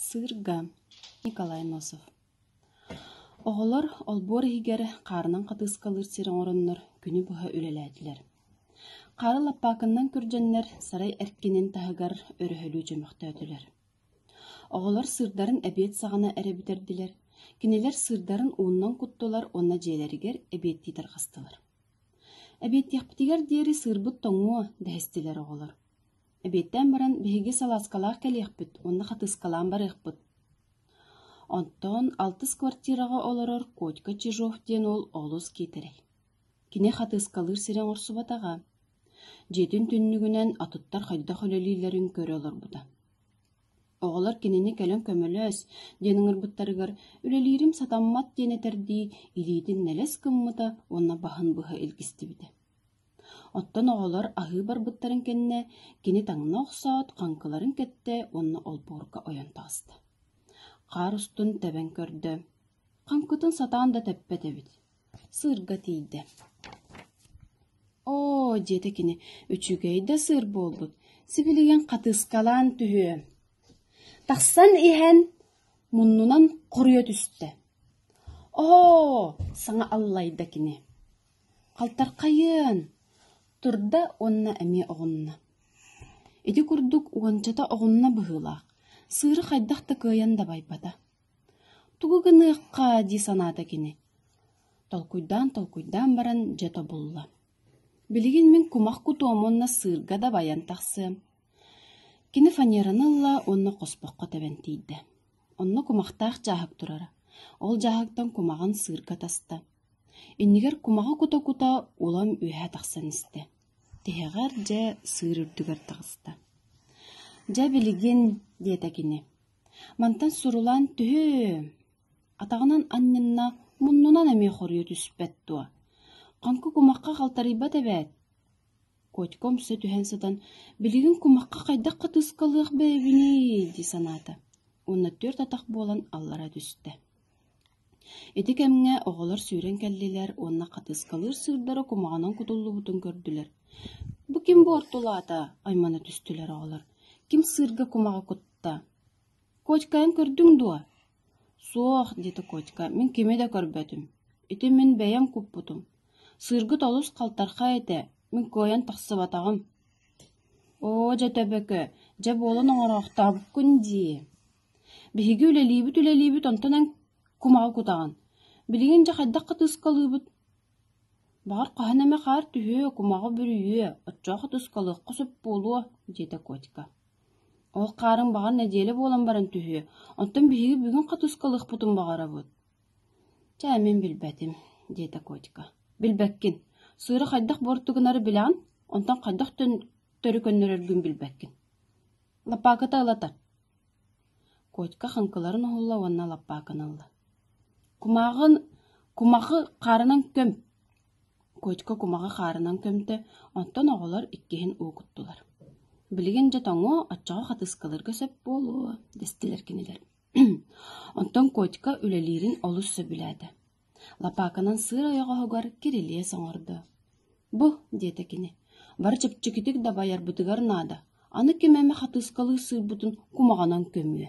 Сыырга Николай Носов Оҕолор олбуор иһигэр хаарынан хатыыскалыыр сир оҥороннор күнү быһа үлэлээтилэр. Хаара лаппаакыннан күрдьэннэр сарай эркинин таһыгар өрөһөлүү чөмөхтөөтүлэр. Оҕолор сыырдарын эбиэт саҕана эрэ бүтэрдилэр, кинилэр сыырдарын ууннан куттулар уонна дьиэлэригэр эбиэттии тарҕастылар. Эбиэттиэхпитигэр диэри сыырбыт тоҥуо, дэһистилэр оҕолор. Эбиэттээн баран биһиги салааскалаах кэлиэхпит уонна хатыыскалаан барыахпыт Онтон алтыс квартираҕа олорор Котька Чижов диэн уол олус киитэрэй. Кини хатыыскалыыр сирэ оҥорсубатаҕа. Дьиэтин түннүгүнэн атыттар хайдах үлэлииллэрин көрө олорбута. Оҕолор кинини кэлэн көмөлөөс диэн ыҥырбыттарыгар «Үлэлиирим сатаммат» диэн этэрдии илиитин нэлэс гыммыта уонна баһын быһа илгистибитэ. Оттон оҕолор аһыы барбыттарын кэннэ кини таҥна охсоот хаҥкыларын кэттэ уонна олбуорга ойон таҕыста. Хаар устун тэбэн көрдө: «Хаҥкытын сатаан да тэппэт эбит Сыырга тиийдэ: «Оо, – диэтэ кини, – үчүгэй да сыыр буолбут, сибилигин хатыыскалаан түһүө». Тахсан иһэн, муннунан хоруйа түстэ: «Оо, – саҥа аллайда кини». Халтархайыан! – турда уонна эмиэ оҕунна. Ити курдук уончата оҕунна быһыылаах, сыыры хайдах да кыайан дабайбата. Тугу гыныахха дии санаата кини, толкуйдаан-толкуйдаан баран дьэ тобулла: «Билигин мин кумах кутуом уонна сыырга дабайан тахсыам». Кини фанераны ылла уонна хоспоххо тэбэн тиийдэ. Онно кумахтаах дьааһык турара, ол дьааһыктан кумаҕын сыырга таста. Иннигэр кумаҕы кута-кута улам үөһэ тахсан истэ. Тиһэҕэр дьэ сыыр үрдүгэр таҕыста. «Дьэ, билигин», диэтэ кини. Мантан сурулаан түһүөм, атаҕынан анньыннаах муннунан эмиэ хоруйа түспэт дуо, хоҥко кумахха халтарыйбат эбээт, Котька умса түһэн сытан, «Билигин кумахха хайдах хатыыскалыах бэйэбиний?» дии санаата уонна түөрт атах буолан аллара түстэ Ити кэмҥэ оҕолор сүүрэн кэллилэр уонна хатыскалыыр сыырдара кумаҕанан кутуллубутун көрдүлэр. «Бу ким бу ортолоото?» аймана түстүлэр оҕолор. «Ким сыырга кумаҕы кутта?» «Котькайын көрдүҥ дуо?» «Суох», – диэтэ Котька, – «мин кими да көрбөтүм. Ити мин бэйэм куппутум. Сыыргыт олус халтархай этэ, мин кыайан тахсыбатаҕым». «Оо, дьэ төбөкө, дьэ буолан оҥороохтообуккун дии» Биһиги үлэлиибит-үлэлиибит онтон эн кумаҕы кутаҕын. Билигин дьэ хайдах хатыыскалыыбыт? Баҕар хаһан эмэ хаар түһүө, кумаҕы бүрүйүө, оччоох хатыыскалыахха сөп буолуо, диэтэ Котька. Ол хаарын баҕар нэдиэлэ буолан баран түһүө, онтон биһиги бүгүн хатыыскалыахпытын баҕарабыт. Чэ, мин билбэтим, диэтэ Котька. Билбэккин. Сыыры хайдах буортугунары билэҕин, онтон хайдах төрүкөннөрөргүн билбэккин. Лапаакыта ылатар. Котька хаҥкыларын оһолло уонна лаппааканы ылла: «Кумааҕын кумахы хаарынан көм!» Котька кумаҕы хаарынан көмтө, онтон оҕолор иккиһин уокуттулар. «Билигин дьэ тоҥуо, оччоҕо хатыскалыырга сөп буолуо» дэстилэр кинилэр. Онтон Котька үлэлиирин олус сөбүлээтэ Лапааканан сыыр ойоҕоһугар кирилиэс оҥордо. «Бу» диэтэ кини, «бары чэпчэкитик дабайарбытыгар наада, аны ким эмэ хатыыскалыы сыырбытын кумаҕынан көмүө»